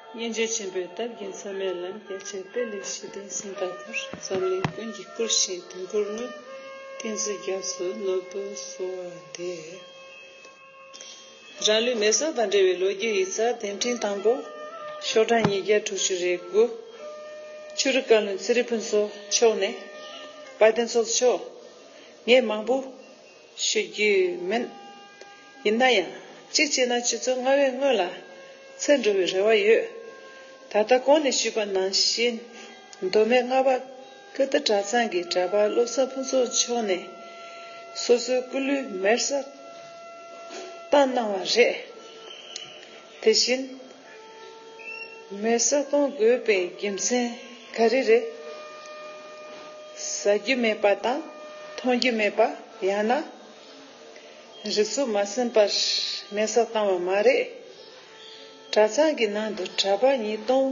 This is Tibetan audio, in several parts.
སྙིང་རྗེ་ཆེན་པོའི་སྟབས་ཀྱིས་མཚན་མའི་ལམ་རྒྱ་ཆེར་སྤེལ་ལེགས་ཞུས་ཏེ་ཟིན་པ་ལྟར་འཛམ་གླིང་ཀུན་གྱིས་བཀུར་ཞིང་དོན་དགུར་བསྔོས། ཏིང་འཛིན་རྒྱ་མཚོའི་ནོར་བུ་གསོལ་བ་འདེབས། རང་ལུས་མེ་སོགས་དང་འབྲེལ་བའི་ལོ་རྒྱུས་ཡིག་ཚགས་གདན་འདྲེན་དང་པོ། ཤོག་གྲངས་ཉིས་བརྒྱ་དྲུག་ཅུ་རེ་དགུ། ཆོས་རིག་བཀའ་བློན་ཚེ་རིང་ཕུན་ཚོགས་མཆོག་ནས། དཔལ་ལྡན་ཚོགས་གཙོ་མཆོག་ངས་མང་པོ། ཞུ་རྒྱུ་མིན། ཡིན་ན་ཡང་གཅིག་བྱས་ན་སྤྱི་ཚོགས་སྔར་བས་སྔོན་ལ་ཚུད་འགྲོ་བའི་རེ་བ་ཡོད། ད་ལྟ་གོང་ནས་ཞུས་པ་ནང་བཞིན་མདོ་སྨད་རྔ་པ་ཀིརྟི་གྲྭ་ཚང་གི་གྲྭ་པ་བློ་བཟང་ཕུན་ཚོགས་མཆོག་ནས་སོ་སོའི་སྐུ་ལུས་མེར་བསྲེགས་བཏང་གནང་བ་རེད། དེ་བཞིན། མེད་བཟའ་བཏུང་དགོས་པའི་རྒྱུ་མཚན་ག་རེ་རེད། བཟའ་རྒྱུ་མེད་པ་དང་འཐུང་རྒྱུ་མེད་པ་ཡང་ན། རི་ཆུ་མ་ཟིན་པར་མེད་བཟའ་བཏང་བ་མ་རེད། གྲྭ་ཚང་གི་ནང་དུ་གྲྭ་པ་ཉིས་སྟོང་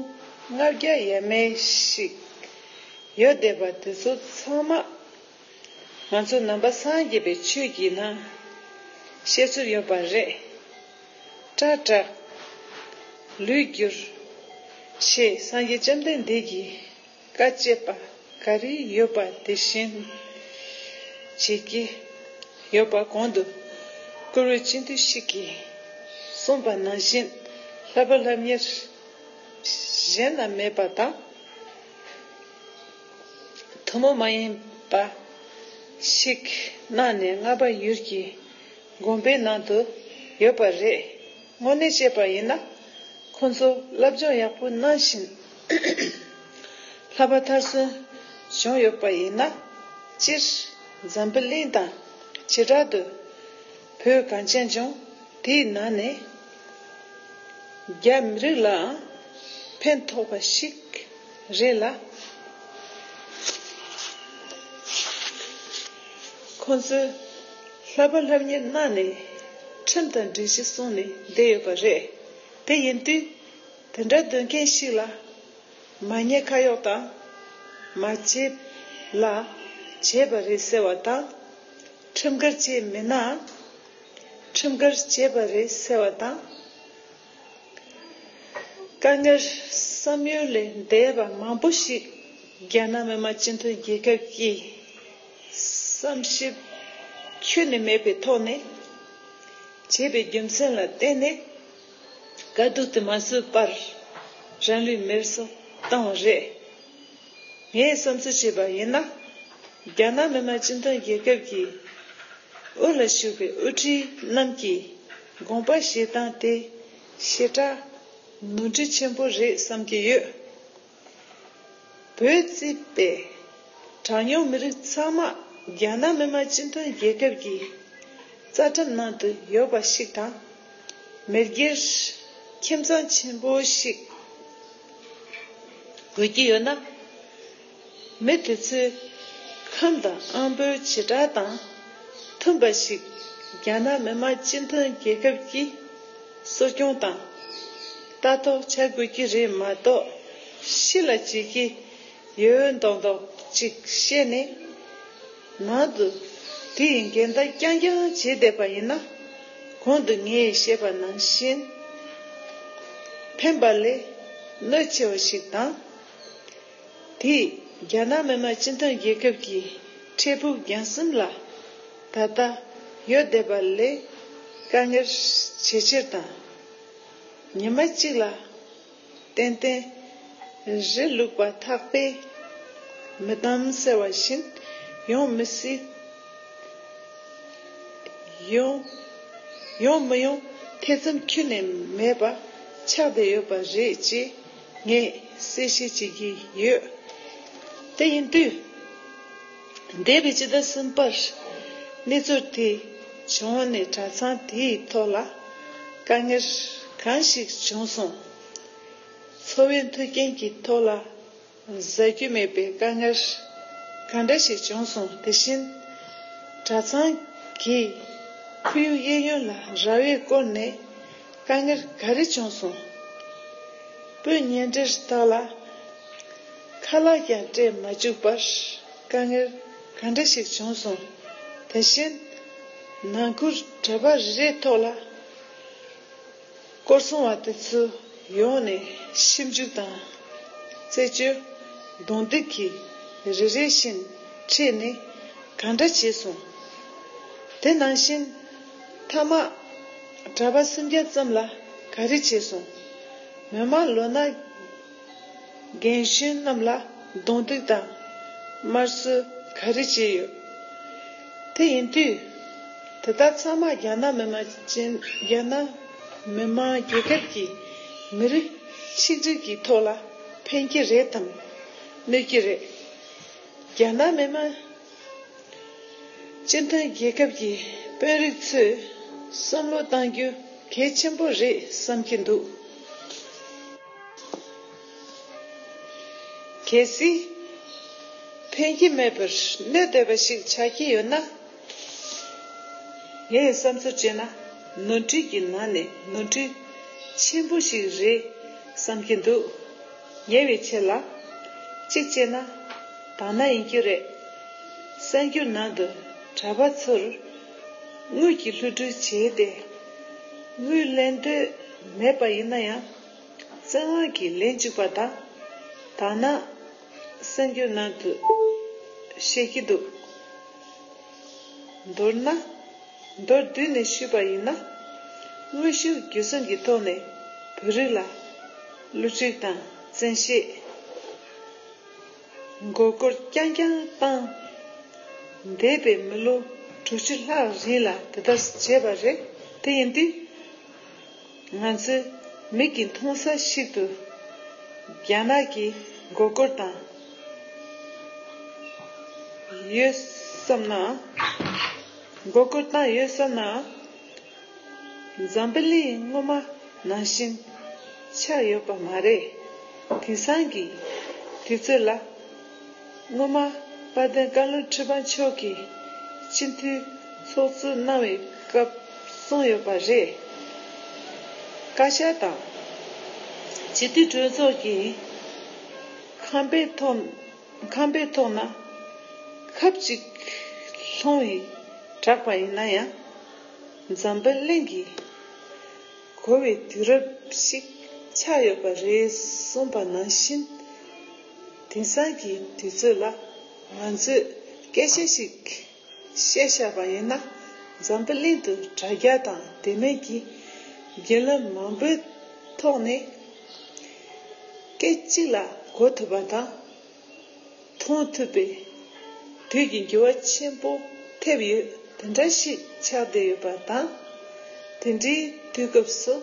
ལྔ་བརྒྱ་ཡས་མས་ཤིག་ཡོད་བསྡད་པ་དེ་ཚོ་ཚང་མ་ང་ཚོ་ནང་པ་སངས་རྒྱས་པའི་ཆོས་ཀྱི་ནང་བཤད་ཚུལ་ཡོད་པ་རེད། སྐྲ་བྲེགས། ལུས་བསྒྱུར། ཞེས་སངས་རྒྱས་བཅོམ་ལྡན་འདས་ཀྱིས་བཀའ་བསྐྱེད་པ་ག་རེ་ཡོད་པ་དེ་བཞིན་བྱེད་ཀྱི་ཡོད་པ་གོང་དུ་བཀུར་འོས་སྤྱི་འཐུས་ཤིག་གིས་གསུངས་པ་ནང་བཞིན་ལྷ་བུ་ལྷ་གཉེར་གཞན་ན་མེད་པ་དང། ཐུན་མོང་མ་ཡིན་པ་ཞིག་གནང་ནས་རྔ་པ་ཡུལ་གྱི། དགོན་པའི་ནང་དུ་ཡོད་པ་རེད། དངོས་གནས་བཤད་པ་ཡིན་ན། ཁོང་ཚོ་སློབ་སྦྱོང་ཡག་པོ་གནང་བཞིན་ལྷ་བ་མཐར་སོན་བྱུང་ཡོད་པ་ཡིན་ན། སྤྱིར་འཛམ་བུ་གླིང་དང་བྱེ་བྲག་ཏུ་བོད་གངས་ཅན་ལྗོངས་འདིའི་ནང་ནས་རྒྱ་མི་རིགས་ལའང་ཕན་ཐོགས་པ་ཞིག་རེད་ལ། ཁོང་ཚོས་ལྷ་པ་ལྷ་མྱེས་གནའ་ནས་ཁྲིམས་དང་སྒྲིག་གཞི་སྲུང་ནས་བསྡད་ཡོད་པ་རེད། དེ་ཡིན་དུས་དེ་འདྲ་འདོད་མཁན་ཞིག་ལ་མ་ཉེས་ཁ་གཡོག་དང་མ་བྱས་ལ་བྱས་པ་རེད་ཟེར་བ་དང། ཁྲིམས་འགལ་བྱས་མེད་ནའང་ཁྲིམས་འགལ་བྱས་པ་རེད་ཟེར་བ་དང། དཀའ་ངལ་བསམ་ཡུལ་ལས་འདས་པ་མང་པོ་ཞིག་རྒྱ་ནག་མི་མང་སྤྱི་མཐུན་རྒྱལ་ཁབ་ཀྱིས་བསམ་ཞིབ་ཁྱོན་ནས་མེད་པའི་ཐོག་ནས། བྱས་པའི་རྒྱུ་མཚན་ལ་བརྟེན་ནས་དཀའ་སྡུག་དུ་མ་བཟོས་པར་རང་ལུས་མེར་བསྲེགས་བཏང་བ་རེད། ངས་བསམ་ཚུལ་བྱས་པ་ཡིན་ན། རྒྱ་ནག་མི་དམངས་སྤྱི་མཐུན་རྒྱལ་ཁབ་ཀྱི་དབུ་ལ་བཞུགས་པའི་དབུ་ཁྲིད་རྣམས་ཀྱིས་དགོངས་པ་བཞེས་སྟངས་དེ་ཞེ་དྲགས་ནོར་འཁྲུལ་ཆེན་པོ་རེད་བསམ་གྱི་ཡོད། བོད་བརྩིས་པའི་གྲངས་ཉུང་མི་རིགས་ཚང་མ་རྒྱ་ནག་མི་དམངས་སྤྱི་མཐུན་རྒྱལ་ཁབ་ཀྱི་རྩ་ཁྲིམས་ནང་དུ་ཡོད་པ་ཞིག་དང། མི་སྒེར་ཁྱིམ་ཚང་ཆེན་པོ་ཞིག། དགོས་ཀྱི་ཡོད་ན། མི་དེ་ཚོས་ཁམས་དང་ཨམ་བུའི་བྱེ་བྲག་དང་མཐུན་པ་ཞིག་རྒྱ་ནག་མི་དམངས་སྤྱི་མཐུན་རྒྱལ་ཁབ་ཀྱིས་གསོ་སྐྱོང་དང་ལྟ་རྟོག་བྱ་དགོས་ཀྱི་རེད་མ་གཏོགས་ཤི་ལ་བྱེད་ཀྱི་ཡོད་འདོག་འདོག་ཅིག་བཤད་ནས། མ་འདུག། དེ་ཡི་འགལ་ཟླ་རྐྱང་རྐྱང་བྱེད་བསྡད་པ་ཡིན་ན། གོང་དུ་ངས་བཤད་པ་ནང་བཞིན། ཕན་པ་ལས་གནོད་ཆེ་བ་ཞིག་དང། དེས་རྒྱ་ནག་མི་དམངས་སྤྱི་མཐུན་རྒྱལ་ཁབ་ཀྱི་འཕྲལ་ཕུགས་རྒྱང་གསུམ་ལ་ད་ལྟ་ཡོད་བསྡད་པ་ལས་དཀའ་ངལ་ཇེ་ཆེར་དང། ཉི་མ་གཅིག་ལ། ཏན་ཏན། གཞི་ལུགས་པ་འཐག་པས་མི་བསྡམ་ཟེར་བ་བཞིན་ཡོང་མི་སྲིད། ཡོང། ཡོང་མི་ཡོང་ཐེ་ཚོམ་ཁྱོན་ནས་མེད་པ་ཆགས་བསྡད་ཡོད་པ་རེད་ཅེས་ངས་གསལ་བཤད་བྱེད་ཀྱི་ཡོད། དེ་ཡིན་དུས། འདས་པའི་སྤྱི་ཟླ་གསུམ་པར་གནས་ཚུལ་དེ་བྱུང་ནས་གྲྭ་ཚང་དེའི་ཐོག་ལ་དཀའ་ངལ་གང་ཞིག་བྱུང་སོང། འཚོ་བའི་མཐུན་རྐྱེན་གྱི་ཐོག་ལ་བཟའ་རྒྱུ་མེད་པའི་དཀའ་ངལ་གང་འདྲ་ཞིག་བྱུང་སོང་དེ་བཞིན་གྲྭ་ཚང་གི་ཁོར་ཡུག་གཡས་གཡོན་ལ་ར་བས་བསྐོར་ནས་དཀའ་ངལ་ག་རེ་བྱུང་སོང། སྤུན་ཉེ་འབྲེལ་དག་ལ། ཁ་ལག་ཀྱང་སྤྲད་མ་བཅུག་པར་དཀའ་ངལ་ག་འདྲ་ཞིག་བྱུང་སོང། དེ་བཞིན་ནང་ཁུལ་གྲྭ་པ་རེ་རེའི་ཐོག་ལ་སྐོར་སྲུང་བ་དེ་ཚོ་ཡོང་ནས་ཞིབ་འཇུག་དང། རྩད་གཅོད། རྡུང་རྡེག་གིས་རེ་རེ་བཞིན་ཁྲིད་ནས་ག་འདྲ་བྱས་སོང། དེ་ནང་བཞིན་མཐའ་མ་གྲྭ་པ་སུམ་བརྒྱ་ཙམ་ལ་ག་རེ་བྱས་སོང། མི་མང་ལོ་ན། རྒན་གཞོན་རྣམས་ལ་རྡུང་རྡེག་དང་དམར་གསོད་ག་རེ་བྱས་ཡོད། དེ་ཡིན་དུས། དེ་དག་ཚང་མ་རྒྱ་ནག་མི་དམངས་ཅན་རྒྱ་ནག་མི་དམངས་རྒྱལ་ཁབ་ཀྱི་མི་རིགས་ཆིག་སྒྲིལ་གྱི་ཐོག་ལ་ཕན་གྱི་རེད་དམ་གནོད་ཀྱི་རེད། རྒྱ་ནག་མི་དམངས་སྤྱི་མཐུན་རྒྱལ་ཁབ་ཀྱི་དཔོན་རིགས་ཚོས་བསམ་བློ་གཏང་རྒྱུ་གལ་ཆེན་པོ་རེད་བསམ་གྱི་འདུག། གལ་སྲིད། ཕན་གྱི་མེད་པར་གནོད་འདོད་པ་ཞིག་ཆགས་ཀྱི་ཡོད་ན། ངས་བསམ་ཚུལ་བཅད་ན་ནོར་འཁྲུལ་གྱི་ནང་ནས་ནོར་འཁྲུལ་ཆེན་པོ་ཞིག་རེད་བསམ་གྱི་འདུག་ཉེ་བའི་ཆེད་ལ། གཅིག་བཅད་ན་དག་སྣང་ཡིན་རྒྱུ་རེད། གསར་འགྱུར་ནང་དུ་གྲྭ་པ་ཚོར་དངུལ་གྱི་ལྷུ་སྒྲུལ་བྱས་ཏེ་དངུལ་ལེན་འདོད་མེད་པ་ཡིན་ན་ཡང། བཙན་དབང་གིས་ལན་གཅིག་པ་དང། དང་ན། གསན་རྒྱུ་ནང་དུ། བཤད་ཀྱི་འདུག། མདོར་ན། མདོར་བསྡུས་ནས་ཞུས་པ་ཡིན་ན། དངོས་གཞིར་བརྒྱུད་གསུམ་གྱི་ཐོག་ནས་བོད་རིགས་ལ། བསླུ་བྲིད་དང་བཙན་ཤེད། མགོ་སྐོར་རྐྱང་རྐྱང་བཏང། འདས་པའི་མི་ལོ་དྲུག་ཅུ་ལྷག་རིང་ལ་དེ་ལྟར་བྱས་པ་རེད། དེ་ཡིན་དུས། ང་ཚོའི་མིག་གིས་མཐོང་ས་ཞིག་ཏུ་རྒྱ་ནག་གི་མགོ་སྐོར་དང། ཡོད་བསམ་ན། མགོ་སྐོར་བཏང་ཡོད་བསམ་ན། འཛམ་བུ་གླིང་སྔོན་མ་ནང་བཞིན་ཆགས་ཡོད་པ་མ་རེད། དེང་སང་གི་དུས་ཚོད་ལ། སྔོན་མ་དཔལ་ལྡན་བཀའ་བློན་ཁྲི་པ་མཆོག་གིས་སྤྱི་འཐུས་ཚོགས་གཙོ་གནང་བའི་སྐབས་གསུངས་ཡོད་པ་རེད། བཀའ་ཤག་དང། སྤྱི་འཐུས་གྲོས་ཚོགས་ཀྱི་ཁང་པའི་ཐོག་ཁང་པའི་ཐོག་ན་ཁབ་ཅིག་ལྷུང་བའི་གྲགས་པ་ཡིན་ན་ཡང་འཛམ་བུ་གླིང་གིས་གོ་བའི་དུས་རབས་ཤིག་ཆགས་ཡོད་པ་རེད་གསུངས་པ་ནང་བཞིན། དེང་སང་གི་དུས་ཚོད་ལ་ང་ཚོས་སྐད་ཆ་ཞིག་བཤད་བཞག་པ་ཡིན་ན་འཛམ་བུ་གླིང་དུ་དྲ་རྒྱ་དང་དེ་མིན་གྱི་རྒྱུན་ལམ་མང་པོའི་ཐོག་ནས་སྐད་ཅིག་ལ་གོ་ཐུབ་པ་དང་མཐོང་ཐུབ་པའི་དུས་ཀྱི་འགྱུར་བ་ཆེན་པོ་ཐེབས་ཡོད་དེ་འདྲ་ཞིག་ཆགས་བསྡད་ཡོད་པ་དང། དེ་འདྲའི་དུས་སྐབས་སུ།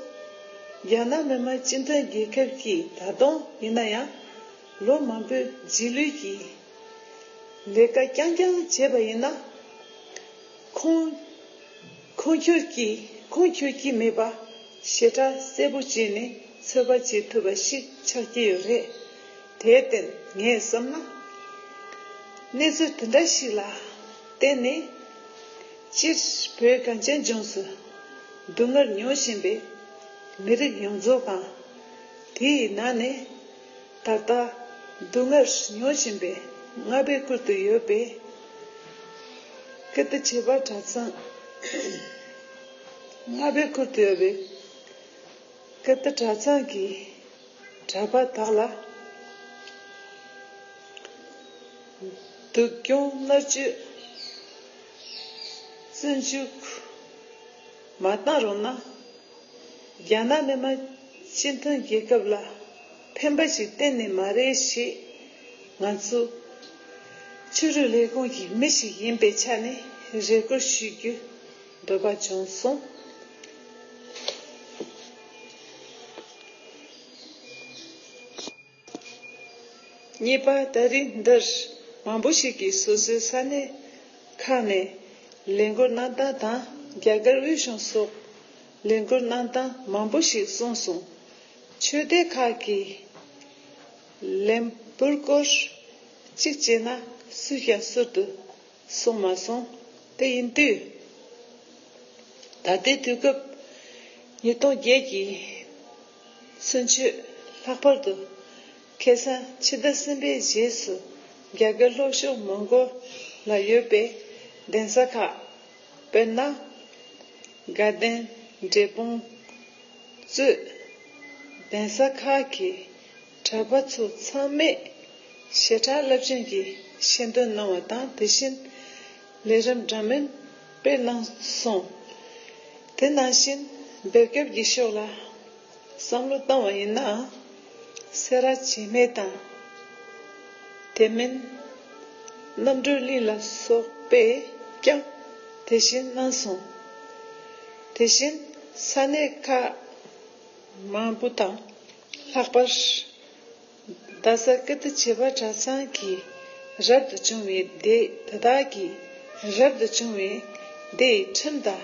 རྒྱ་ནག་མི་དམངས་སྤྱི་མཐུན་རྒྱལ་ཁབ་ཀྱིས་ད་དུང་ཡིན་ན་ཡང་ལོ་མང་པོའི་རྗེས་ལུས་ཀྱི་ལས་ཀ་རྐྱང་རྐྱང་བྱས་པ་ཡིན་ན། ཁུངས་འཁྱོལ་གྱི་ཁུངས་འཁྱོལ་གྱི་མེད་པ་ཞེ་དྲག་གསལ་པོ་བྱས་ནས་ཚོད་དཔག་བྱེད་ཐུབ་པ་ཞིག་ཆགས་ཀྱི་ཡོད་རེད། དེར་བརྟེན་ངས་བསམ་ན། གནས་ཚུལ་དེ་འདྲ་ཞིག་ལ་བརྟེན་ནས། སྤྱིར་བོད་གངས་ཅན་ལྗོངས་སུ་སྡུག་བསྔལ་མྱོང་བཞིན་པའི་མི་རིགས་ཡོངས་རྫོགས་དང། དེ་ཡི་ནང་ནས་ད་ལྟ་སྡུག་བསྔལ་མྱོང་བཞིན་པའི་རྔ་པའི་ཁུལ་དུ་ཡོད་པའི་ཀིརྟི་བྱེས་པ་གྲྭ་ཚང། རྔ་པའི་ཁུལ་དུ་ཡོད་པའི་ཀིརྟི་གྲྭ་ཚང་གི། གྲྭ་པ་དག་ལ་སྡུག་གྱོང་མནར་གཅོད་བཙོན་འཇུག་མ་བཏང་རུང་ན་རྒྱ་ནག་ནས་མ་སྤྱི་མཐུན་རྒྱལ་ཁབ་ལ་ཕན་པ་ཞིག་གཏན་ནས་མ་རེད་ཞེས་ང་ཚོ་ཕྱི་རོལ་ལས་ཁུངས་ཀྱི་མི་ཞིག་ཡིན་པའི་ཆ་ནས་རེ་སྐུལ་ཞུ་རྒྱུ། འདོད་པ་བྱུང་གསུངས། གཉིས་པ་ད་རིས་འདིར་མང་པོ་ཞིག་གིས་སོ་སོའི་ས་གནས་ཁག་ནས་ལས་འགུལ་གནང་སྟངས་དང་རྒྱ་གར་དབུས་གཞུང་སོགས་ལས་འགུལ་གནང་སྟངས་མང་པོ་ཞིག་གསུངས་སོང། ཆོས་སྡེ་ཁག་གིས་ལས་འགུལ་སྐོར་གཅིག་བྱས་ན་སུས་ཀྱང་ཟུར་དུ། གསུངས་མ་སོང། དེ་ཡིན་དུས། ད་ལྟའི་དུས་སྐབས་ཉིས་སྟོང་བརྒྱད་ཀྱི་ཚུན་ཆོད་ལྷག་པར་དུ། ཁེ་སང་ཕྱི་ཟླ་གསུམ་པའི་རྗེས་སུ་རྒྱ་སྐད་ལྷོ་ཕྱོགས་མོང་གོ་ལ་ཡོད་པའི་གདན་ས་ཁག། དཔེར་ན། དགའ་ལྡན་འབྲས་སྤུངས་གཙོས་གདན་ས་ཁག་གི། གྲྭ་པ་ཚོ་ཚང་མས་བྱེ་བྲག་རླབས་ཆེན་གྱི་ཤེས་འདོན་གནང་བ་དང་དེ་བཞིན་ལས་རིམ་འདྲ་མིན་སྤེལ་གནང་སོང། དེ་ནང་བཞིན་འབེབས་སྐབས་ཀྱི་ཕྱོགས་ལ་བསམ་བློ་བཏང་བ་ཡིན་ནའང་སེ་ར་བྱེས་སྨད་དང། དེ་མིན་རྣམ་གྲོལ་གླིང་ལ་སོགས་པས་ཀྱང་དེ་བཞིན་གནང་སོང། དེ་བཞིན་ས་གནས་ཁག་མང་པོ་དང། ལྷག་པར། རྡ་ས་ཀི་ཏི་བྱེས་པ་གྲྭ་ཚང་གི་རབ་ཏུ་བྱུང་བའི་སྡེ་དེ་དག་གི་རབ་ཏུ་བྱུང་བའི་སྡེའི་ཁྲིམས་དང་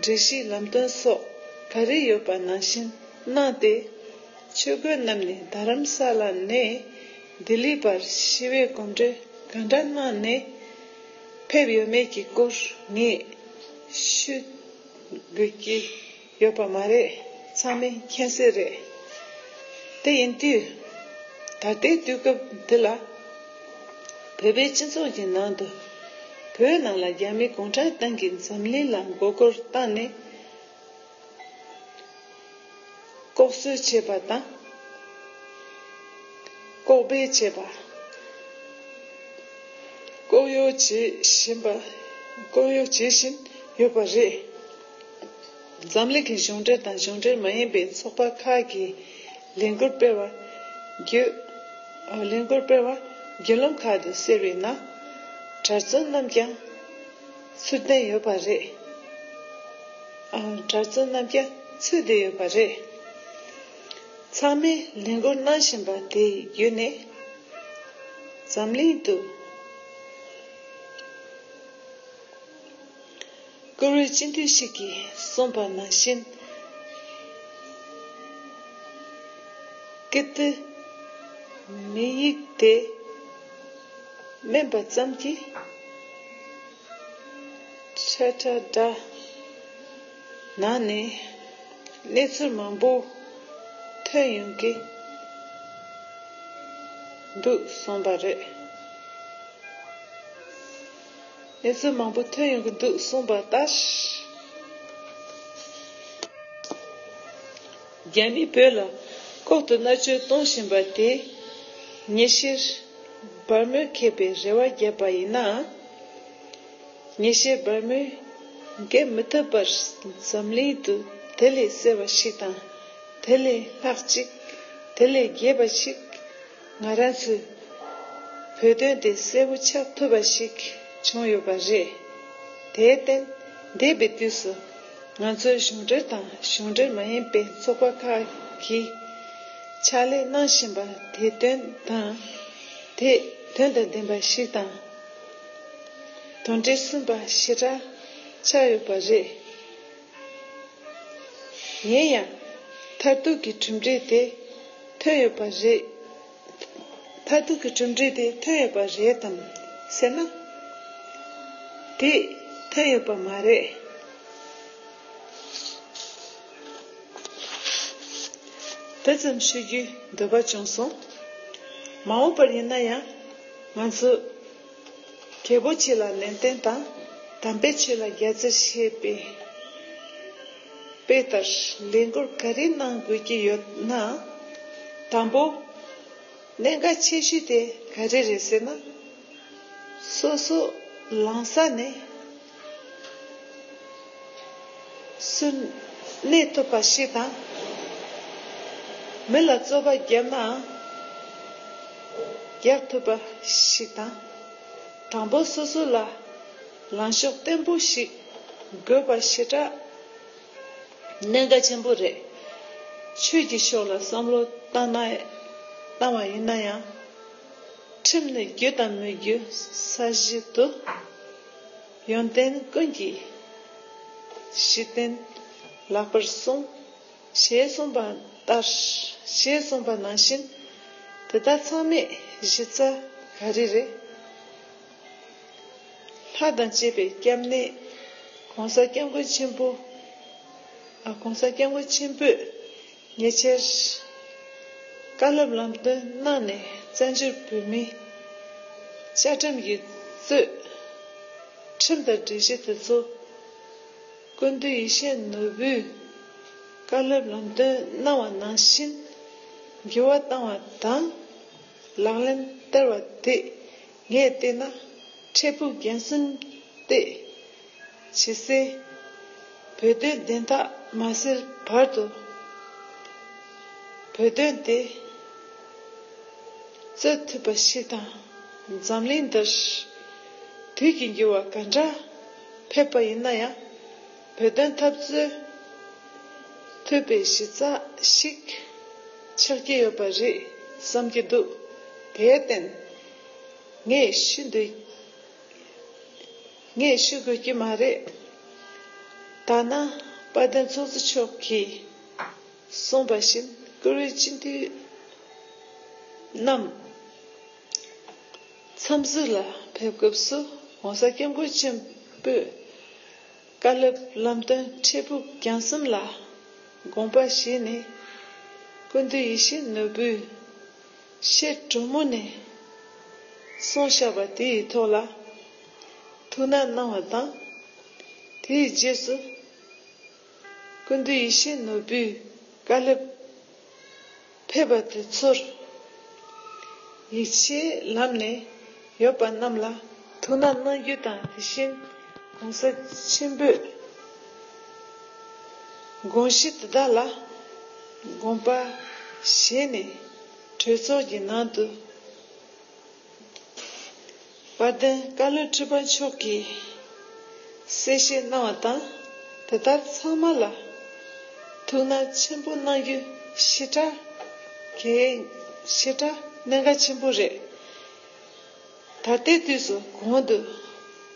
སྒྲིག་གཞི་ལམ་སྟོན་སོགས་ག་རེ་ཡོད་པ་ནང་བཞིན་གནང་སྟེ། ཆོས་གོས་རྣམས་ནི་རྡ་རམ་ས་ལ་ནས་ལྡི་ལི་བར་ཞི་བའི་གོམ་བགྲོད་ག་འདྲ་གནང་ནས་ཕེབས་ཡོད་མེད་ཀྱི་སྐོར་ངས་ཤོད་དགོས་ཀྱི། ཡོད་པ་མ་རེད་ཚང་མས་མཁྱེན་གསལ་རེད། དེ་ཡིན་དུས། ད་ལྟའི་དུས་སྐབས་འདི་ལ། བོད་པའི་སྤྱི་ཚོགས་ཀྱི་ནང་དུ། བོད་ནང་ལ་རྒྱ་མི་གུང་ཁྲན་ཏང་གིས་འཛམ་གླིང་ལ་མགོ་སྐོར་བཏང་ནས། ལྐོག་གསོད་བྱས་པ་དང། ལྐོག་སྦས་བྱས་པ། ལྐོག་གཡོ་བྱེད་བཞིན་ཡོད་པ་རེད། འཛམ་གླིང་གི་གཞུང་འབྲེལ་དང་གཞུང་འབྲེལ་མ་ཡིན་པའི་ཚོགས་པ་ཁག་གིས་ལས་འགུལ་སྤེལ་བར་རྒྱུད་ལམ་ཁག་ཏུ་གསལ་བའི་ནང་གྲྭ་བཙུན་རྣམས་ཀྱང་ཚུད་བསྡད་ཡོད་པ་རེད། ཚང་མས་ལས་འགུལ་གནང་བཞིན་པ་དེ་བརྒྱུད་ནས་འཛམ་གླིང་དུ། བཀུར་འོས་སྤྱི་འཐུས་ཤིག་གིས་གསུངས་པ་ནང་བཞིན། ཀིརྟི་མི་ཡིག་དེ་སྨན་པ་ཙམ་གྱིས་འཕྲལ་དྲ་སྦྲགས་གནང་ནས་གནས་ཚུལ་མང་པོ་ཐོན་ཡོང་གི་འདུག་གསུངས་པ་རེད། གནས་ཚུལ་མང་པོ་ཐོན་ཡོང་གི་འདུག་གསུངས་པ་ལྟར། རྒྱ་མིས་བོད་ལ་ལྐོག་ཏུ་མནར་གཅོད་གཏོང་བཞིན་པ་དེས། ཉེ་ཤེར་སྦར་མོས་མཁས་པའི་རེ་བ་བརྒྱབ་པ་ཡིན་ན། ཉེ་ཤེར་སྦར་མོས་འགེབས་མི་ཐུབ་པར་འཛམ་གླིང་དུ་དེ་ལས་གསལ་བ་ཞིག་དང་དེ་ལས་ལྷག་ཅིག་དེ་ལས་རྒྱས་པ་ཞིག། ང་རང་ཚོས་བོད་དོན་དེ་གསལ་པོ་ཆགས་ཐུབ་པ་ཞིག་བྱུང་ཡོད་པ་རེད། དེའི་བརྟེན་འདས་པའི་དུས་སུ་ང་ཚོའི་གཞུང་འབྲེལ་དང་གཞུང་འབྲེལ་མ་ཡིན་པའི་ཚོགས་པ་ཁག་གིས་ཕྱག་ལས་གནང་བཞིན་པ་དེ་དོན་དང་དེ་དོན་དང་ལྡན་པ་ཞིག་དང། དོན་འབྲས་སུན་པ་ཞེ་དྲག་ཆགས་ཡོད་པ་རེད། ཡིན་ཡང། མཐར་ཐུག་གི་གྲུབ་འབྲས་དེ་ཐོན་ཡོད་པ་རེད། མཐར་ཐུག་གི་གྲུབ་འབྲས་དེ་ཐོན་ཡོད་པ་རེད་དམ་ཟེར་ན། དེ་ཐོན་ཡོད་པ་མ་རེད། དེ་ཙམ་ཤེས་རྒྱུའི་འདོད་པ་བྱུང་སོང། མ་འོངས་པར་ཡིན་ན་ཡང་ང་ཚོས། རྒྱལ་པོ་ཆེ་ལ་ནན་ཏན་དང། དམ་པའི་ཆོས་ལ་རྒྱ་མཚོས་བཤད་པའི་དཔེ་ལྟར་ལས་འགུལ་ག་རེ་གནང་དགོས་ཀྱི་ཡོད་ན། དང་པོ། གནད་འགག་ཆེ་ཤོས་དེ་ག་རེ་རེད་ཟེར་ན། སོ་སོ་ལངས་ས་ནས། སུ་གནས་ཐུབ་པ་ཞིག་དང། མི་ལ་རྩོད་པ་བརྒྱབ་ནའང་བརྒྱབ་ཐུབ་པ་ཞིག་དང། དྲང་པོ་སོ་སོ་ལ་ལངས་ཕྱོགས་བརྟན་པོ་ཞིག་དགོས་པ་ཞེ་དྲག་གནད་འགག་ཆེན་པོ་རེད། ཆོས་ཀྱི་ཕྱོགས་ལ་བསམ་བློ་བཏང་ན་བཏང་བ་ཡིན་ན་ཡང། ཁྲིམས་ནི་རྒྱུད་དང་མི་རྒྱུད་ས་གཞི་དུ། ཡོན་ཏན་ཀུན་གྱི་གཞི་རྟེན་ལགས་པར་གསུངས། ཞེས་གསུངས་པ་ལྟར་ཞེས་གསུངས་པ་ནང་བཞིན་དེ་དག་ཚང་མས་གཞི་རྩ་ག་རེ་རེད། ལྷ་དང་བཅས་པའི་སྐྱབས་གནས ྋགོང་ས ྋསྐྱབས་མགོན་ཆེན་པོས། ཉེ་ཆར། བཀའ་སློབ་ལམ་སྟོན་གནང་ནས་བཙན་བྱོལ་བོད་མིའི་བཅའ་ཁྲིམས་ཀྱི་རྩོད་ཁྲིམས་དང་སྒྲིག་གཞི་དེ་ཚོ་ཀུན་འདུས་ཡེ་ཤེས་ནོར་བུས་བཀའ་སློབ་ལམ་སྟོན་གནང་བ་ནང་བཞིན་འགྱུར་བ་བཏང་བ་དང་ལག་ལེན་བསྟར་བ་དེས་ངས་བལྟས་ན་འཕྲལ་ཕུགས་རྒྱན་གསུམ་སྟེ། ཕྱི་སེ། བོད་དོན་བདེན་མཐའ་མ་སེལ་བར་དུ། བོད་དོན་དེ་རྩོད་ཐུབ་པ་ཞིག་དང་འཛམ་གླིང་འདིར་དུས་ཀྱི་འགྱུར་བ་ག་འདྲ་ཕེབས་པ་ཡིན་ན་ཡང་བོད་དོན་འཐབ་རྩོད་ཐུབ་པའི་གཞི་རྩ་ཞིག་ཆགས་ཀྱི་ཡོད་པ་རེད་བསམ་གྱི་འདུག་དེའི་རྟེན་ངས་ཤི་འདོད། ངས་ཤི་དགོས་ཀྱི་མ་རེད། ཐ་ན་དཔལ་ལྡན་ཚོགས་གཙོ་མཆོག་གིས་གསུངས་པ་བཞིན་བཀུར་འོས་སྤྱི་འཐུས་རྣམས་འཚམས་གཟིགས་ལ་ཕེབས་སྐབས་སུ ྋགོང་ས ྋསྐྱབས་མགོན་ཆེན་པོས་བཀའ་སློབ་ལམ་སྟོན་འཕྲལ་ཕུགས་རྒྱང་གསུམ་ལ་དགོངས་པ་བཞེས་ནས་ཀུན་ཏུ་ཡིད་བཞིན་ནོར་བུའི་ཤེལ་གྲུ་མུ་ནས་གསུངས་བཞག་པ་དེའི་ཐོག་ལ། ཐུགས་ན་སྣང་བ་དང། དེའི་རྗེས་སུ། ཀུན་ཏུ་ཡེ་ཤེས་ནོར་བུའི་བཀའ་ལེབ། ཕེབས་པ་དེ་ཚོར། ཡིག་ཆའི་ལམ་ནས་ཡོད་པ་རྣམས་ལ་ཐུགས་ན་སྣང་རྒྱུ་དང་དེ་བཞིན་གོང་ས་ཆེན་པོས། དགོངས་གཞི་དེ་དག་ལ་དགོངས་པ་བཞེས་ནས་གྲོས་ཚོགས་ཀྱི་ནང་དུ། དཔལ་ལྡན་བཀའ་བློན་ཁྲི་པ་མཆོག་གིས་གསལ་བཤད་གནང་བ་དང་དེ་ལྟར་ཚང་མ་ལ་ཐུགས་སྣང་ཆེན་པོ་གནང་རྒྱུ་ཞེ་དྲག་གལ་ཞེ་དྲག་གནད་འགག་ཆེན་པོ་རེད། ད་ལྟའི་དུས་སུ་གོང་དུ་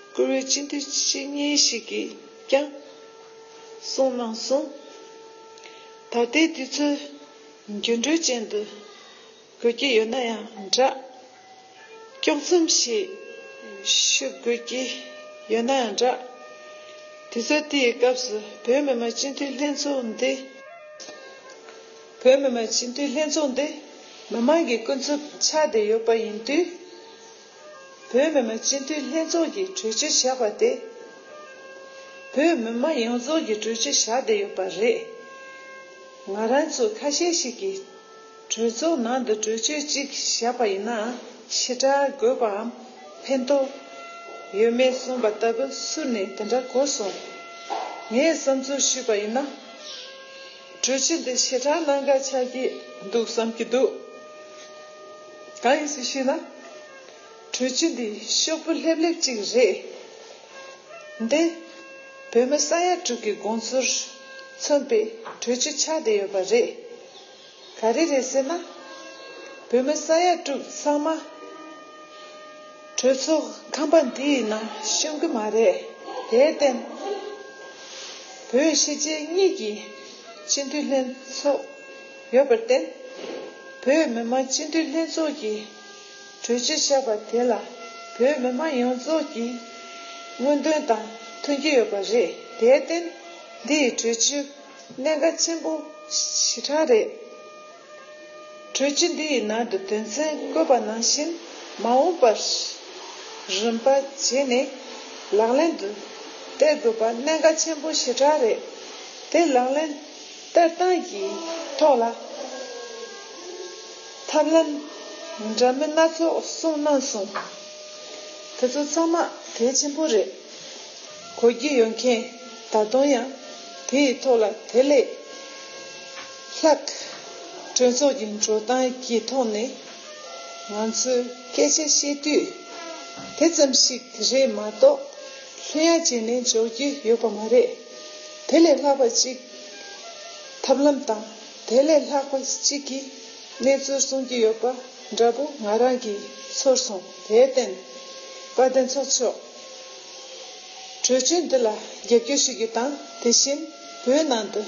བཀུར་འོས་སྤྱི་འཐུས་ཆེ་གཉིས་ཤིག་གིས་ཀྱང་གསུངས་གནང་སོང། ད་ལྟའི་དུས་ཚོད་འགྱུར་འགྲོས་ཅན་དུ་དགོས་ཀྱི་ཡོད་ན་ཡང་འདྲ། དཀྱོག་མཚམས་ཤིག་ཞུ་དགོས་ཀྱི་ཡོད་ན་ཡང་འདྲ། དུས་ཚོད་འདིའི་སྐབས་སུ་བོད་མི་མང་སྤྱི་འཐུས་ལྷན་ཚོགས་འདི། བོད་མི་མང་སྤྱི་འཐུས་ལྷན་ཚོགས་འདི་མི་མང་གི་ཀུན་རྫོབ་ཆགས་བསྡད་ཡོད་པ་ཡིན་དུས། བོད་མི་མང་སྤྱི་འཐུས་ལྷན་ཚོགས་ཀྱི་གྲོས་ཆོད་བཞག་པ་དེ། བོད་མི་མང་ཡོངས་རྫོགས་ཀྱི་གྲོས་ཆོད་བཞག་བསྡད་ཡོད་པ་རེད། ང་རང་ཚོ་ཁ་ཤས་ཤིག་གིས། གྲོས་ཚོགས་ནང་དུ་གྲོས་ཆོད་ཅིག་བཞག་པ་ཡིན་ན་ཕྱི་དྲག་དགོས་པའམ་ཕན་ཐོགས་ཡོད་མེད་གསུངས་པ་ལྟ་བུ་སུ་ནས་དེ་འདྲ་གོ་སོང། ངས་བསམ་ཚུལ་ཞུས་པ་ཡིན་ན། གྲོས་ཆོད་འདི་ཕྱི་དྲག་གནང་ག་ཆགས་ཀྱི་འདུག་བསམ་གྱི་འདུག་གང་ཡིན་ཟེར་ཞེ་ན། གྲོས་ཆོད་འདི་ཤོག་བུ་ལྷེབ་ལྷེབ་ཅིག་རེད་དེ། བོད་མི་ས་ཡ་དྲུག་གི་དགོངས་ཚུལ་མཚོན་པའི་གྲོས་ཆོད་ཆགས་བསྡད་ཡོད་པ་རེད། ག་རེ་རེད་ཟེར་ན། བོད་མི་ས་ཡ་དྲུག་ཚང་མ་གྲོས་ཚོགས་ཁང་པ་འདིའི་ནང་ཤོང་གི་མ་རེད། དེར་བརྟེན། བོད་ཕྱི་རྒྱལ་གཉིས་ཀྱི་སྤྱི་འཐུས་ལྷན་ཚོགས་ཡོད་པར་བརྟེན། བོད་མི་མང་སྤྱི་འཐུས་ལྷན་ཚོགས་ཀྱི་གྲོས་ཆོད་བཞག་པ་དེ་ལ་བོད་མི་མང་ཡོངས་རྫོགས་ཀྱི་མངོན་འདོན་དང་མཐུན་གྱི་ཡོད་པ་རེད། དེར་བརྟེན། འདིའི་གྲོས་ཆོད། གནད་འགག་ཆེན་པོ་ཞེ་དྲག་རེད། གྲོས་ཆོད་འདི་ཡི་ནང་དུ་དོན་ཚན་བཀོད་པ་ནང་བཞིན་མ་འོངས་པར་རིམ་པ་བྱས་ནས་ལག་ལེན་དུ་སྟེར་དགོས་པ་གནད་འགག་ཆེན་པོ་ཞེ་དྲག་རེད། དེ་ལག་ལེན་སྟེར་སྟངས་ཀྱི་ཐོག་ལ་ཐབས་ལམ་འདྲ་མིན་སྣ་ཚོགས་གསུངས་གནང་སོང། དེ་ཚོ་ཚང་མ་གལ་ཆེན་པོ་རེད། གོ་རྒྱུ་ཡོད་མཁན་ད་དུང་ཡང། དེ་ཡི་ཐོག་ལ་དེ་ལས་ལྷག། གྲོས་ཚོགས་ཀྱི་འགྲོ་སྟངས་ཀྱི་ཐོག་ནས་ང་ཚོས་སྐད་ཆ་བཤད་དུས། དེ་ཙམ་ཞིག་རེད་མ་གཏོགས་ལྷོད་ཡངས་བྱས་ནས་འཇོག་རྒྱུ་ཡོད་པ་མ་རེད། དེ་ལས་ལྷག་པ་ཅིག་ཐབས་ལམ་དང་དེ་ལས་ལྷག་པ་ཅིག་གི་གནས་ཚུལ་གསུང་རྒྱུ་ཡོད་པ་འདྲ་པོ་ང་རང་གིས་ཚོར་སོང་དེར་བརྟེན། བཀའ་བསྟན་ཚོགས་མཆོག། གྲོས་ཆོད་འདི་ལ་རྒྱབ་སྐྱོར་ཞུ་རྒྱུ་དང་དེ་བཞིན་བོད་ནང་དུ་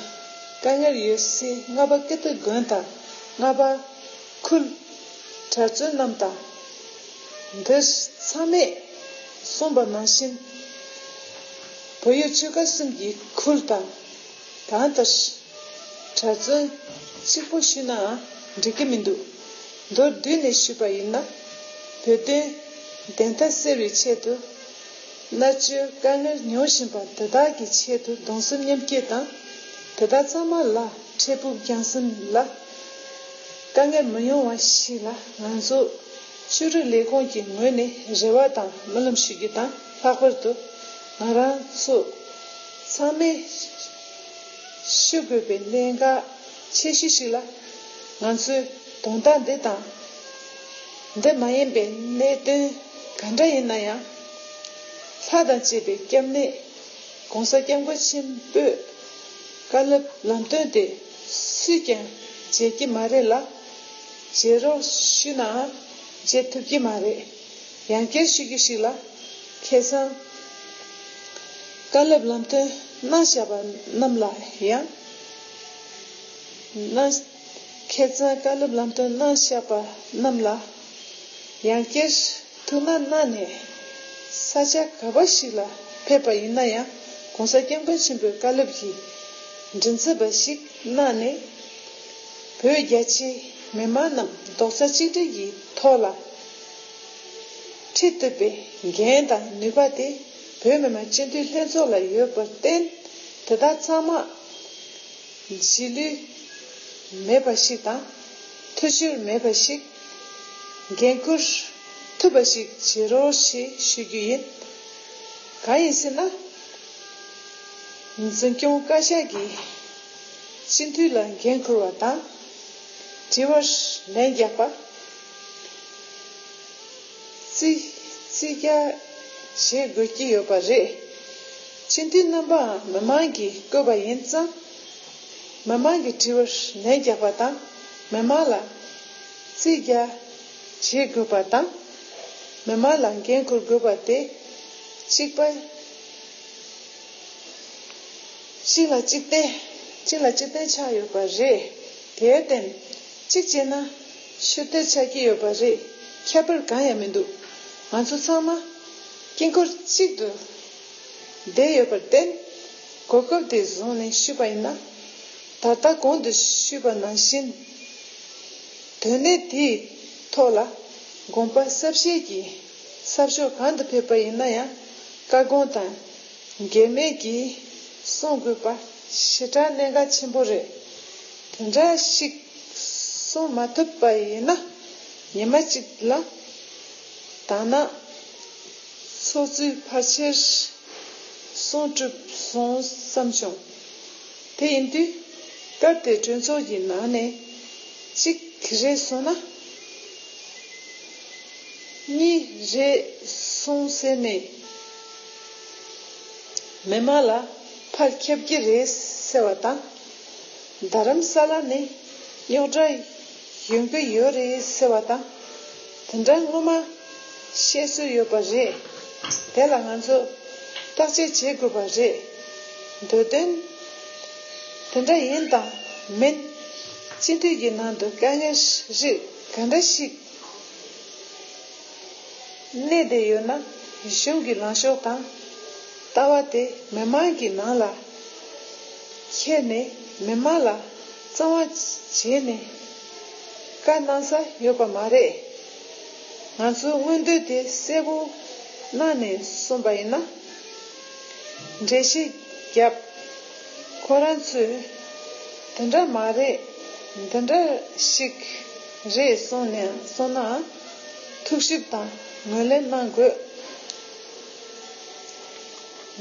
དཀའ་ངལ་ཡོད་སའི་རྔ་པ་ཀིརྟི་དགོན་དང་རྔ་པ་ཁུལ་གྲྭ་བཙུན་རྣམས་དང། འདིར་ཚང་མས་གསུངས་པ་ནང་བཞིན་བོད་ཡུལ་ཆོལ་ཁ་གསུམ་གྱི་ཁུལ་དང། གང་ལྟར་གྲྭ་བཙུན་གཅིག་པོ་ཞུས་ནའང་འགྲིག་གི་མི་འདུག་མདོར་བསྡུས་ནས་ཞུས་པ་ཡིན་ན། བོད་དོན་བདེན་མཐའ་སེལ་བའི་ཆེད་དུ། སླད་ཕྱིར་དཀའ་ངལ་མྱོང་བཞིན་པ་དེ་དག་གི་ཆེད་དུ་གདུང་སེམས་མཉམ་སྐྱེད་དང། དེ་དག་ཚང་མ་ལ་འཕྲལ་ཕུགས་རྒྱང་སེམས་ལ་དཀའ་ངལ་མི་ཡོང་བ་ཞིག་ལ་ང་ཚོ་ཆོས་རིག་ལས་ཁུངས་ཀྱི་ངོས་ནས་རེ་བ་དང་སྨོན་ལམ་ཞུ་རྒྱུ་དང་ལྷག་པར་དུ་ང་རང་ཚོ་ཚང་མས་ཤོད་དགོས་པའི་གནད་འགག་ཆེ་ཤོས་ཤིག་ལ་ང་ཚོའི་དོན་དག་འདི་དང། འདི་མ་ཡིན་པའི་གནད་དོན་ག་འདྲ་ཡིན་ན་ཡང། ལྷ་དང་བཅས་པའི་སྐྱབས་གནས ྋགོང་ས ྋསྐྱབས་མགོན་ཆེན་པོས་བཀའ་སློབ་ལམ་སྟོན་དེ་སུས་ཀྱང་མཇལ་གྱི་མ་རེད་ལ། མཇལ་རོགས་ཞུས་ནའང་མཇལ་ཐུབ་ཀྱི་མ་རེད། ཡང་བསྐྱར་ཞུ་རྒྱུ་ཞིག་ལ། ཁྱེད་ཚང་བཀའ་སློབ་ལམ་སྟོན་གནང་བཞག་པ་རྣམས་ལ་ཡང། མཁས་བཙུན་བཀའ་སློབ་ལམ་སྟོན་གནང་བཞག་པ་རྣམས་ལ་ཡང་བསྐྱར་ཐུགས་སྣང་གནང་ནས། ས་ཆ་ག་པ་ཞིག་ལ་ཕེབས་པ་ཡིན་ན་ཡང་གོང་ས་སྐྱབས་མགོན་ཆེན་པོའི་བཀའ་སློབ་ཀྱི་མགྲིན་ཚབ་པ་ཞིག་གནང་ནས། བོད་རྒྱ་ཆེའི་མི་མང་རྣམས་རྡོག་རྩ་གཅིག་སྒྲིལ་གྱི་ཐོག་ལ་ཁྲིད་གཏོད་པའི་འགན་དང་ནུས་པ་དེ་བོད་མི་མང་སྤྱི་འཐུས་ལྷན་ཚོགས་ལ་ཡོད་པར་བརྟེན་དེ་དག་ཚང་མ་བྱིས་བློས། མེད་པ་ཞིག་དང། ཐུགས་ཆེར་མེད་པ་ཞིག། འགན་ཁུར། ཐུབ་པ་ཞིག་བྱེད་རོགས་ཞེས་ཞུ་རྒྱུ་ཡིན། གང་ཡིན་ཟེར་ན། འཛིན་སྐྱོང་བཀའ་ཤག་གིས་སྤྱི་འཐུས་ལ་འགན་ཁུར་བ་དང། དྲི་བར་ལན་རྒྱག་པ། བརྩི་བཀུར་བྱེད་དགོས་ཀྱི་ཡོད་པ་རེད། སྤྱི་འཐུས་རྣམ་པའང་མི་དམངས་ཀྱིས་བསྐོས་པ་ཡིན་ཙང། མི་དམངས་ཀྱི་དྲི་བར་ལན་རྒྱག་པ་དང་མི་དམངས་ལ་བརྩི་བཀུར་བྱེད་དགོས་པ་དང། མི་དམངས་ལ་འགན་འཁུར་དགོས་པ་དེ་གཅིག་པ། གཅིག་ལ་གཅིག་བརྟེན་ཆགས་ཡོད་པ་རེད། དེར་བརྟེན་གཅིག་བྱས་ན། ཕྱིར་བལྟས་ཆགས་ཀྱི་ཡོད་པ་རེད། ཁྱད་པར་གང་ཡང་མི་འདུག་ང་ཚོ་ཚང་མ་དཀྱིལ་འཁོར་གཅིག་ཏུ་བསྡད་ཡོད་པར་བརྟེན། གོ་སྐབས་དེ་བཟུང་ནས་ཞུས་པ་ཡིན་ན། ད་ལྟ་གོང་དུ་ཞུས་པ་ནང་བཞིན་དོན་གནད་དེའི་ཐོག་ལ་དགོངས་པ་གསལ་བཤད་ཀྱིས་ས་ཕྱོགས་གང་དུ་ཕེབས་པ་ཡིན་ན་ཡང་བཀའ་དགོངས་དང་འགལ་མེད་ཀྱིས་གསུང་དགོས་པ་ཞེ་དྲག་གནད་འགག་ཆེན་པོ་རེད། དེ་འདྲ་ཞིག་གསུང་མ་ཐུབ་པ་ཡིན་ན་ཉི་མ་གཅིག་ལ་ད་ནངས་ཚོགས་གཙོའི་ཕར་ཆེར་གསུང་གྲུབ་སོང་བསམ་བྱུང། དེ་ཡིན་དུས་སྐབས་དེ་གྲོས་ཚོགས་ཀྱི་ནང་ནས་གཅིག་རེད་གསུང་ན། གཉིས་རེད་གསུང་ཟེར་ནས་མི་མང་ལ་ཕར་ཁྱབ་ཀྱི་རེད་ཟེར་བ་དང། རྡ་རམ་ས་ལ་ནི་རྙོག་དྲ་ཡོང་གི་ཡོད་རེད་ཟེར་བ་དང་དེ་འདྲ་སྔོན་མ་བཤད་སྲོལ་ཡོད་པ་རེད། དེ་ལ་ང་ཚོས་བརྟག་དཔྱད་བྱེད་དགོས་པ་རེད་འདོད། དོན་དེ་འདྲ་ཡིན་དང་མིན་སྤྱི་འཐུས་ཀྱི་ནང་དུ་དཀའ་ངལ་རིགས་ག་འདྲ་ཞིག་གནས་བསྡད་ཡོད་ན་གཞུང་གི་ལངས་ཕྱོགས་དང་ལྟ་བ་དེ་མི་མང་གི་ནང་ལ་ཁྱེར་ནས་མི་དམངས་ལ་གཙང་བ་བྱས་ནས་བཀའ་གནང་ས་ཡོད་པ་མ་རེད། ང་ཚོའི་མངོན་འདོད་དེ་གསལ་པོ་གནང་ནས་གསུངས་པ་ཡིན་ན། འགྲེལ་བཤད་བརྒྱབ། ཁོ་རང་ཚོས་དེ་འདྲ་མ་རེད་འདི་འདྲ་ཞིག་རེད་གསུངས་ན། ཐུགས་ཞིབ་དང་ངོས་ལེན་གནང་དགོས།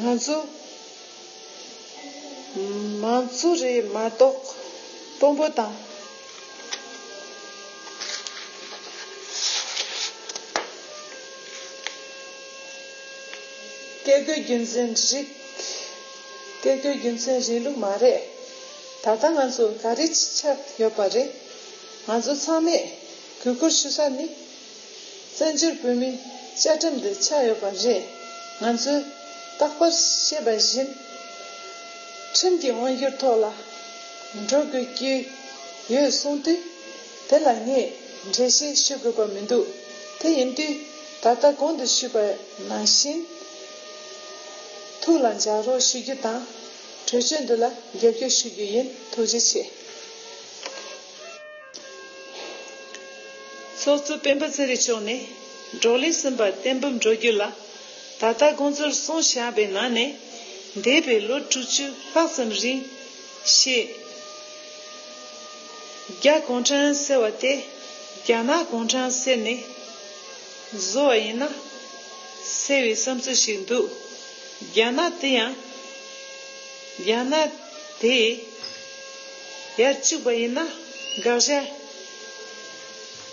ང་ཚོ། མང་གཙོ་རེད་མ་གཏོགས་དཔོན་པོ་དང། བཀས་བཀོད་རྒྱུད་འཛིན་རིགས། བཀས་བཀོད་རྒྱུད་འཛིན་རིང་ལུགས་མ་རེད། ད་ལྟ་ང་ཚོ་ག་རེ་ཆགས་ཡོད་པ་རེད། ང་ཚོ་ཚང་མས་གུས་བཀུར་ཞུ་ས་ནི། བཙན་བྱོལ་བོད་མིའི་བཅའ་ཁྲིམས་དེ་ཆགས་ཡོད་པ་རེད། ང་ཚོས་རྟག་པར་ཤེས་པ་བཞིན། ཁྲིམས་ཀྱི་དབང་སྒྱུར་ཐོག་ལ་འགྲོ་དགོས་ཀྱི་ཡོད་གསུངས་དུས། དེ་ལ་ངས་འགྲེལ་བཤད་ཞུ་དགོས་པ་མི་འདུག་དེ་ཡིན་དུས་ད་ལྟ་གོང་དུ་ཞུས་པ་ནང་བཞིན། ཐུགས་ལ་འཇགས་རོགས་ཞུ་རྒྱུ་དང། གྲོས་ཆོད་འདི་ལ་རྒྱབ་སྐྱོར་ཞུ་རྒྱུ་ཡིན་ཐུགས་རྗེ་ཆེ། ཚོགས་གཙོ་སྤེན་པ་ཚེ་རིང་མཆོག་ནས་འབྲོག་ལས་གསུམ་པར་གཏན་འབེབས་འགྲོ་རྒྱུ་ལ་ད་ལྟ་དགོངས་ཚུལ་གསུངས་བཞག་པའི་ནང་ནས། འདས་པའི་ལོ་དྲུག་བཅུ་ལྷག་ཙམ་རིང། ཤེས་རྒྱ་གུང་ཁྲན་ཟེར་བ་དེ་རྒྱ་ནག་གུང་ཁྲན་ཟེར་ནས་བཟོ་བ་ཡིན་ན། ཟེར་བའི་བསམ་ཚུལ་ཞིག་འདུག་རྒྱ་ནག་དེ་ཡང། རྒྱ་ནག་དེ། ཡར་བཅུག་པ་ཡིན་ན་དགག་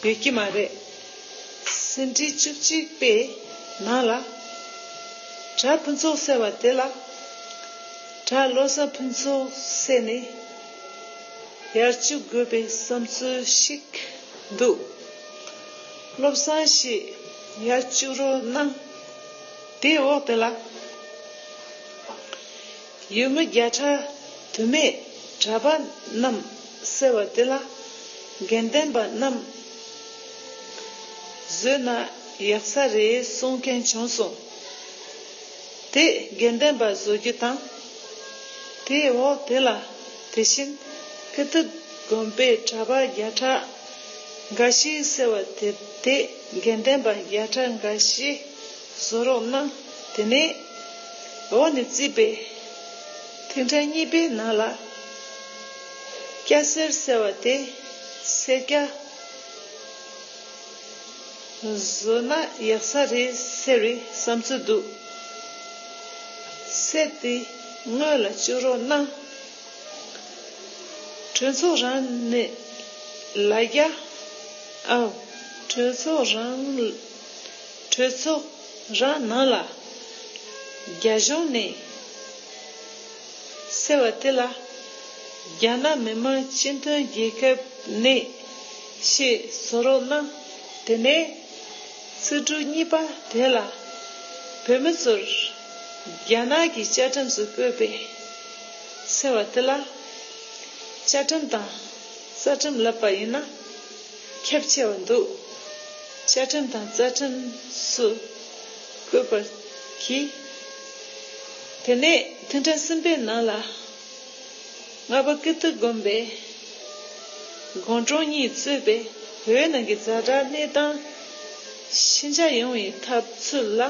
བྱ་ཡོད་ཀྱི་མ་རེད། ཟིན་བྲིས་བཅུ་གཅིག་པའི་ནང་ལ་གྲྭ་ཕུན་ཚོགས་ཟེར་བ་དེ་ལ་གྲྭ་བློ་བཟང་ཕུན་ཚོགས་ཟེར་ནས་ཡར་བཅུག་དགོས་པའི་བསམ་ཚུལ་ཞིག་འདུག་བློ་བཟང་ཞེས་ཡར་བཅུག་རོགས་གནང་དེའི་འོག་དེ་ལ། ཡུལ་མི་བརྒྱ་ཕྲག་དུ་མས་གྲྭ་པ་རྣམས་བསད་བ་དེ་ལ་དགེ་ལྡན་པ་རྣམས་བཟོས་ན་ཡག་ས་རེད་གསུང་མཁན་བྱུང་སོང། དེས་དགེ་ལྡན་པ་བཟོ་རྒྱུ་དང། དེའི་འོག་དེ་ལ་དེ་བཞིན་ཀི་ཏི་དགོན་པའི་གྲྭ་པ་བརྒྱ་ཕྲག་འགའ་ཞིག་བསད་བ་དེ་དེས་དགེ་ལྡན་པ་བརྒྱ་ཕྲག་འགའ་ཤས་བཟོ་རོགས་གནང། དེ་ནས་འོག་ནས་བརྩིས་པའི་ཐིག་འཕྲེང་གཉིས་པའི་ནང་ལ། སྐྱ་སེར་ཟེར་བ་དེ་སེར་སྐྱ། བཟོ་ན་ཡག་ས་རེད་ཟེར་བའི་བསམ་ཚུལ་འདུག། གསལ་ཏེ་དངོས་ལ་བཅུག་རོགས་གནང། གྲོས་ཚོགས་རང་ནས་ལ་རྒྱ། ཨོ། གྲོས་ཚོགས་རང། གྲོས་ཚོགས་རང་ནང་ལ་རྒྱ་གཞུང་ནས་ཟེར་བ་དེ་ལ་རྒྱ་ནག་མི་དམངས་སྤྱི་མཐུན་རྒྱལ་ཁབ་ནས་ཞེས་བཟོ་རོགས་གནང་དེ་ནས་ཚིག་འབྲུ་གཉིས་པ་དེ་ལ་བོད་མི་ཚོར་རྒྱ་ནག་གི་བཅའ་ཁྲིམས་སུ་བཀོད་པའི་ཟེར་བ་དེ་ལ་བཅའ་ཁྲིམས་དང་རྩ་ཁྲིམས་ལབ་པ་ཡིན་ན། ཁྱབ་ཆེ་བ་འདུག་བཅའ་ཁྲིམས་དང་རྩ་ཁྲིམས་སུ་བཀོད་པར་གྱིས། དེ་ནས་ཐུན་ཕྲག་གསུམ་པའི་ནང་ལ་ལྔ་པ་ཀིརྟི་དགོན་པའི་དགོན་གྲོང་གཉིས་གཙོས་པའི་བོད་ནང་གི་རྫ་དྲག་གནས་སྟངས་ཤེས་འཇགས་ཡོང་བའི་ཐབས་ཚུལ་ལ་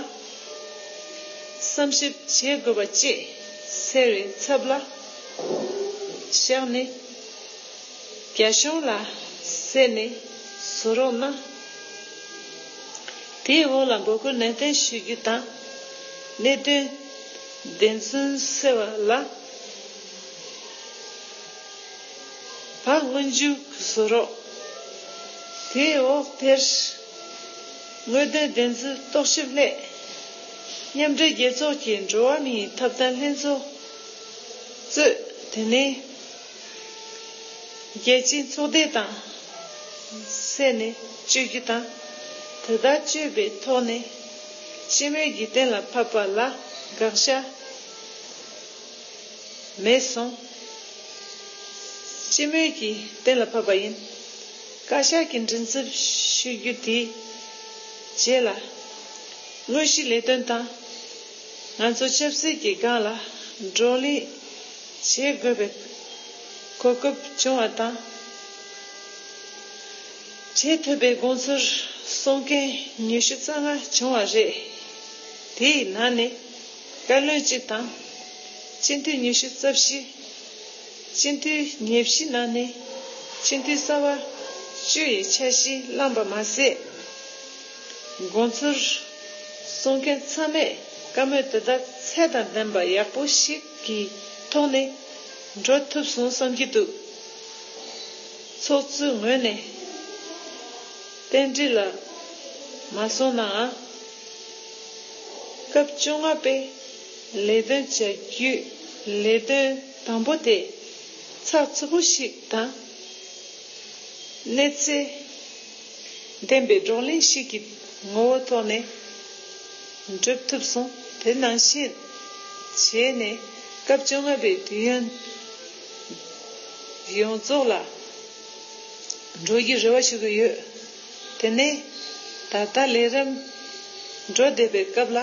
བསམ་ཞིབ་བྱེད་དགོས་པ་བཅས་ཟེར་བའི་ཚབ་ལ་བཞག་ནས། རྒྱ་གཞུང་ལ་གསན་ནས་བཟོ་རོགས་གནང། དེའི་འོག་ལ་འབོད་སྐུལ་ནན་ཏན་ཞུ་རྒྱུ་དང། གནད་དོན་བདེན་རྫུན་སེལ་བ་ལ་བག་དངོས་འཇུག་བཟོ་རོགས། དེའི་འོག་དེར་དངོས་དོན་བདེན་རྫུན་རྟོག་ཞིབ་སླད། མཉམ་འབྲེལ་རྒྱལ་ཚོགས་ཀྱི་འགྲོ་བ་མིའི་ཐོབ་ཐང་ལྷན་ཚོགས་གཙོས་དེ་ནི། རྒྱལ་སྤྱིའི་ཚོགས་སྡེ་དང་བསྲེས་ནས་སྤྱོད་རྒྱུ་དང། དེ་ལྟར་སྤྱོད་པའི་ཐོག་ནས་སྤྱི་མོས་ཀྱིས་གཏན་ལ་ཕབ་པ་ལ་དགག་བྱ་མེད་གསུངས། སྤྱི་མོས་ཀྱིས་གཏན་ལ་ཕབ་པ་ཡིན། བཀའ་ཤག་གིས་མགྲིན་ཚབ་ཞུ་རྒྱུ་དེའི་རྗེས་ལ། དངོས་གཞི་ལས་དོན་དང་ང་ཚོ་ཆབ་སྲིད་ཀྱི་སྒང་ལ་བགྲོ་གླེང། བྱེད་དགོས་པའི་གོ་སྐབས་བྱུང་བ་དང། བྱེད་ཐུབ་པའི་དགོངས་ཚུལ་གསུང་མཁན་ཉི་ཤུ་རྩ་ལྔ་བྱུང་བ་རེད། དེའི་ནང་ནས་བཀའ་བློན་གཅིག་དང། སྤྱི་འཐུས་ཉི་ཤུ་རྩ་བཞི། སྤྱི་འཐུས་ཉེར་བཞི་ནང་ནས་སྤྱི་འཐུས་གསར་བ་བཅུ་ཡི་འཆར་གཞི་བླངས་པ་མ་ཟད། དགོངས་ཚུལ་གསུང་མཁན་ཚང་མས་བཀའ་མོལ་དེ་དག་ཚད་དང་ལྡན་པ་ཡག་པོ་ཞིག་གི་ཐོག་ནས་འགྲོ་ཐུབ་སོང་བསམ་གྱི་འདུག་ཚོགས་གཙོའི་ངོས་ནས་རྟེན་འབྲེལ་ལ་མ་སོང་ནའང་སྐབས་བཅོ་ལྔ་པའི་ལས་དོན་བྱ་རྒྱུའི་ལས་དོན་དང་པོ་དེ་ཚགས་ཚུད་པོ་ཞིག་དང་གནས་ཚད་བདེན་པའི་བགྲོ་གླེང་ཞིག་གི་ངོ་བོ་ཐོག་ནས་འགྲུབ་ཐུབ་སོང་དེ་ནང་བཞིན་བྱས་ནས་སྐབས་བཅོ་ལྔ་པའི་དུས་ཡུན་ཡོངས་རྫོགས་ལ་འགྲོ་རྒྱུའི་རེ་བ་ཞུ་གི་ཡོད། དེ་ནས་ད་ལྟ་ལས་རིམ་འགྲོ་བསྡད་པའི་སྐབས་ལ་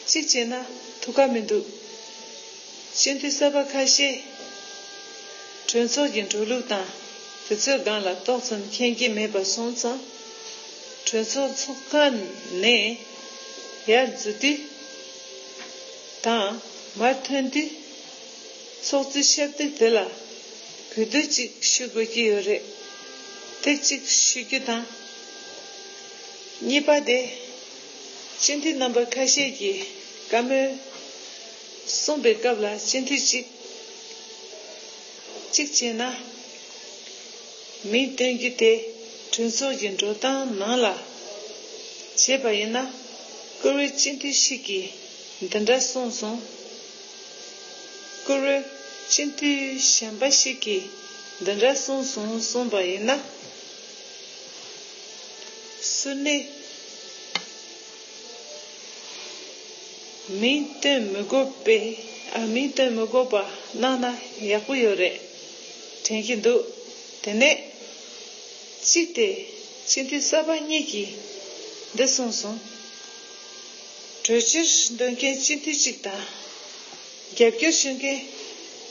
གཅིག་བྱས་ན་ཐུགས་ཁག་མི་འདུག་སྤྱི་འཐུས་གསར་པ་ཁ་ཤས་གྲོས་ཚོགས་ཀྱི་འགྲོ་ལུགས་དང། དེ་ཚོའི་སྒང་ལ་ཏོག་ཙམ་མཁྱེན་གྱི་མེད་པ་སོང་ཙང། གྲོས་ཚོགས་ཚོགས་ཁང་ནས་ཡར་འཛུལ་དུས་དང་མར་ཐོན་དུས། ཚོགས་གཙོས་ཞབས་སྟེགས་དེ་ལ་གུས་འདུད་ཅིག་ཞུ་དགོས་ཀྱི་ཡོད་རེད། དེ་གཅིག་ཞུ་རྒྱུ་དང། གཉིས་པ་དེ། སྤྱི་འཐུས་རྣམ་པ་ཁ་ཤས་ཀྱིས་བཀའ་མོལ་གསུངས་པའི་སྐབས་ལ་སྤྱི་འཐུས་གཅིག། གཅིག་བྱས་ན། མིང་སྟོན་རྒྱུ་དེ་གྲོས་ཚོགས་ཀྱི་འགྲོ་སྟངས་ནང་ལ་བྱས་པ་ཡིན་ན། བཀུར་འོས་སྤྱི་འཐུས་ཤིག་གིས་འདི་འདྲ་གསུངས་སོང། བཀུར་འོས་སྤྱི་འཐུས་གཞན་པ་ཞིག་གིས་འདི་འདྲ་གསུངས་སོང་གསུངས་པ་ཡིན་ན། སུ་ནི། མིའི་དོན་མི་དགོས་པའི་མིའི་དོན་མི་དགོས་པ་གནང་ན་ཡག་པོ་ཡོད་རེད་དྲན་གྱི་འདུག་དེ་ནས། གཅིག་དེ་སྤྱི་འཐུས་གསར་པ་གཉིས་ཀྱིས་འདི་གསུངས་སོང། གྲོས་ཆོད་འདོན་མཁན་སྤྱི་འཐུས་གཅིག་དང། རྒྱབ་སྐྱོར་ཞུ་མཁན་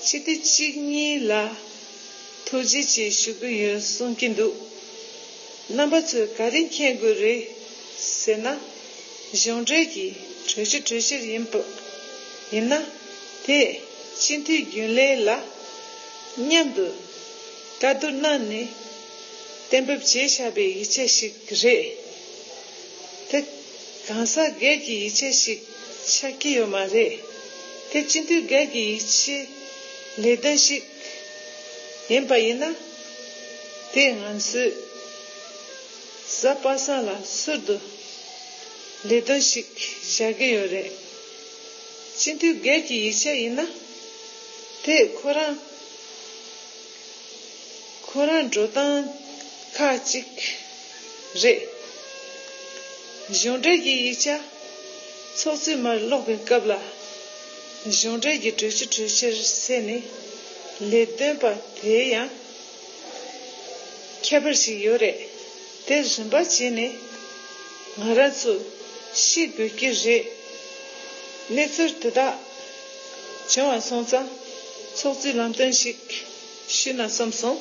སྤྱི་འཐུས་གཅིག་གཉིས་ལ་ཐུགས་རྗེ་ཆེ་ཞུ་གི་ཡོད་གསུངས་ཀྱི་འདུག། རྣམ་པ་ཚོས་ག་རེ་མཁྱེན་དགོས་རེད་ཟེར་ན། གཞུང་འབྲེལ་གྱི་གྲོས་ཆོད་གྲོས་ཆོད་ཡིན་སྟབས། ཡིན་ན་དེས་སྤྱི་འཐུས་རྒྱུན་ལས་ལ་མཉམ་དུ་བཀའ་བསྡུར་གནང་ནས་གཏན་འབེབས་བྱས་ཤག་པའི་ཡིག་ཆ་ཞིག་རེད། དེ་གང་ཟག་སྒེར་གྱི་ཡིག་ཆ་ཞིག་ཆགས་ཀྱི་ཡོད་མ་རེད། དེ་སྤྱི་འཐུས་སྒེར་གྱི་ཡིག་ཆའི་ལས་དོན་ཞིག་ཡིན་པ་ཡིན་ན། དེ་སྔོན་སུས་ཟ་པ་ས་ལ་གསོད་དུ་ལས་དོན་ཞིག་བྱ་གི་ཡོད་རེད། སྤྱི་འཐུས་སྒེར་གྱི་ཡིག་ཆ་ཡིན་ན་དེ་ཁོ་རང་ཁོ་རང་འགྲོ་སྟངས་ཁ་ཅིག་རེད། གཞུང་འབྲེལ་གྱི་ཡིག་ཆ་ཚོགས་ཚུད་མར་ཀློག་པའི་སྐབས་ལ། གཞུང་འབྲེལ་གྱི་གྲོས་གཞི་གྲོས་ཆོད་བསྲེས་ནས་ལས་དོན་པ་དེ་ཡང་ཁྱད་པར་ཞིག་ཡོད་རེད་དེ་རིམ་པ་བྱས་ནས་ང་རང་ཚོ་ཤེས་དགོས་ཀྱི་རེད། གནས་ཚུལ་དེ་དག་བྱུང་བ་སོང་ཙང་ཚོགས་གཙོས་ལམ་སྟོན་ཞིག་ཞུས་ན་བསམ་སོང།